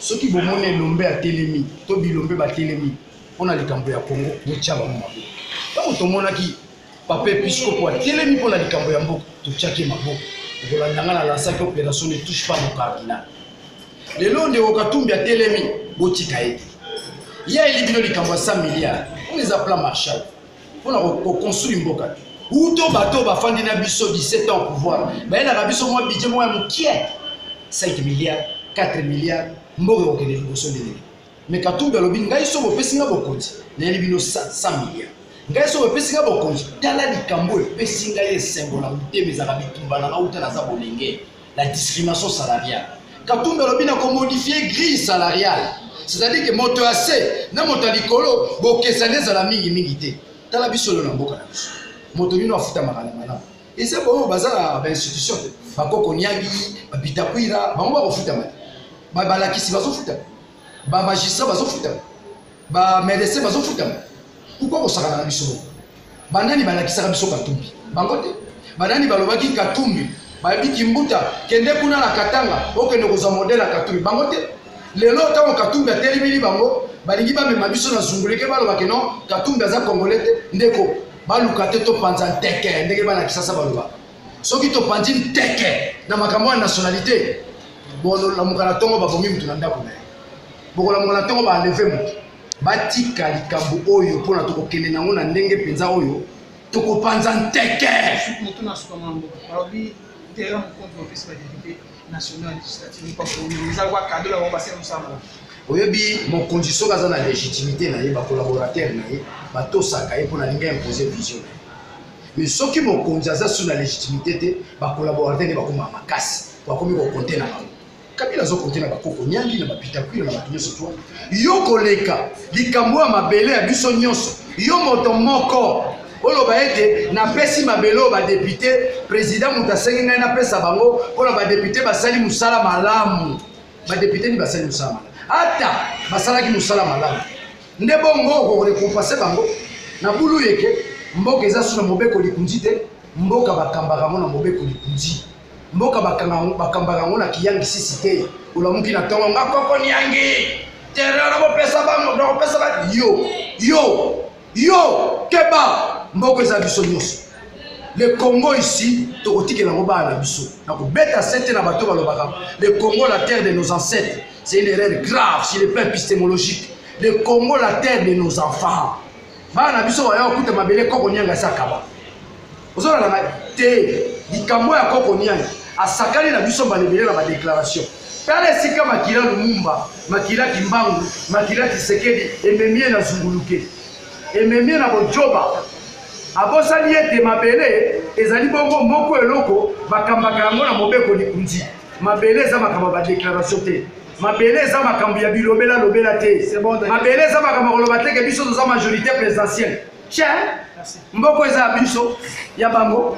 soki bomoni elombe atelemi to bilombe batelemi mpo na likambo ya kongo botya bango maboko ntango tomonaki papa episkopo atelemi mpo na likambo ya mboka totyaki ye maboko okolanda ngai nalansaki operation ne touche pas mon cardinal lelo ndeko katumbi atelemi botika ye te ye ayeli bino likambo ya 100 milliard oyo eza plan marshal mpona koconstruire mboka te uto bato bafandi na biso 17 ans pouvoir bayelaka biso mwa budget moko ya mokie 5 milliard 4 milliard mboka ekokende liboso ndenge mais katumbi alobi ngai soki opesi nga bokonzi nayeli bino 100 milliard ngai soki opesi nga bokonzi tala likambo oyo epesi ngai esengo na motema ezalaka bitumba na nga uta naza bolenge la discrimination salariale katumbi alobi na komodifie grille salariale c'est-à-dire ke moto ya se na moto ya likolo bokesani ezala mingimingi te tala biso lelo na mboka na biso moto nino afutamaka na malamu eza baoyo baza na bainstitution te bakoko niangi babitakwira bango bakofutama te balakisi bazofutama bamagistrat bazofutama ba medecin bazofutama pourkoi kosakana na biso bongo banani balakisaka biso katumbi bango te banani balobaki katumbi bayebi kimbuta kende kuna na katanga okende kozwa modele ya katumbi bango te lelo ntango katumbi atelemeli bango balingi bamema biso na zunguleke baloba ke non katumbi aza congolais te ndeko baluka te topanza nteke ndenge bana kisasa balobaka soki topanzi nteke na makambo ya nationalité bolamuka na ntongo babomi moto na ndako na ye bokolamuka na ntongo baaleve moto batika likambo oyo mpo na tokokende nango na ndenge mpenza oyo tokopanza nteke oyebi mokonzi soki aza na légitimité na ye bacolaborateur na ye batosaka ye mpo na linga impose vision na ye mais soki mokonzi aza sur na légitimité te bacollaborateur nde bakoma makasi bakomi kokonte na bango kabila azokonte na bakoko nyangi na bapitakwila na bato nyonso twa yo koleka likambo ya mabele ya biso nyonso yo moto moko oloba ete napesi mabele oyo badepute président moto asengi ngai napesa bango mpo na badepute basali mosala malamu badepute nini basali mosala malamu ata basalaki mosala malamu nde bongo okorekompase bango na bulu yeke mboka eza su na mobeko likunzi te mboka bakambaka yango na mobeko likunzi mboka bakambaka yango na kiyangisisi te olamuki na ntongo nga koko niangi terrain nakopesa bango nakopesa ba yo yo yo keba mboka eza biso nyonso le congo ici tokotikela yango bana na biso na kobeta sete na bato balobaka le congo la terre de nos ancêtres C'est une erreur grave sur le plan épistémologique. Le Congo, la terre de nos enfants. bana biso baya kokuta mabele koko nianga esi akaba ozolala ngai te likambo ya koko nianga asakani na biso malebele na badeklaration tala esika makila lumumba makila kimbangu makila tisekedi ememie na zunguluke ememie na bojoba abosani ete mabele ezali bongo moko eloko bakambaka yango na mobeko likunzi mabele eza makambo ya badeklaratio te mabele eza makambo ya bilobela lobela te mabele eza makambo ya koloba teke biso toza majorité présidentielle ce mboko eza ya biso ya bango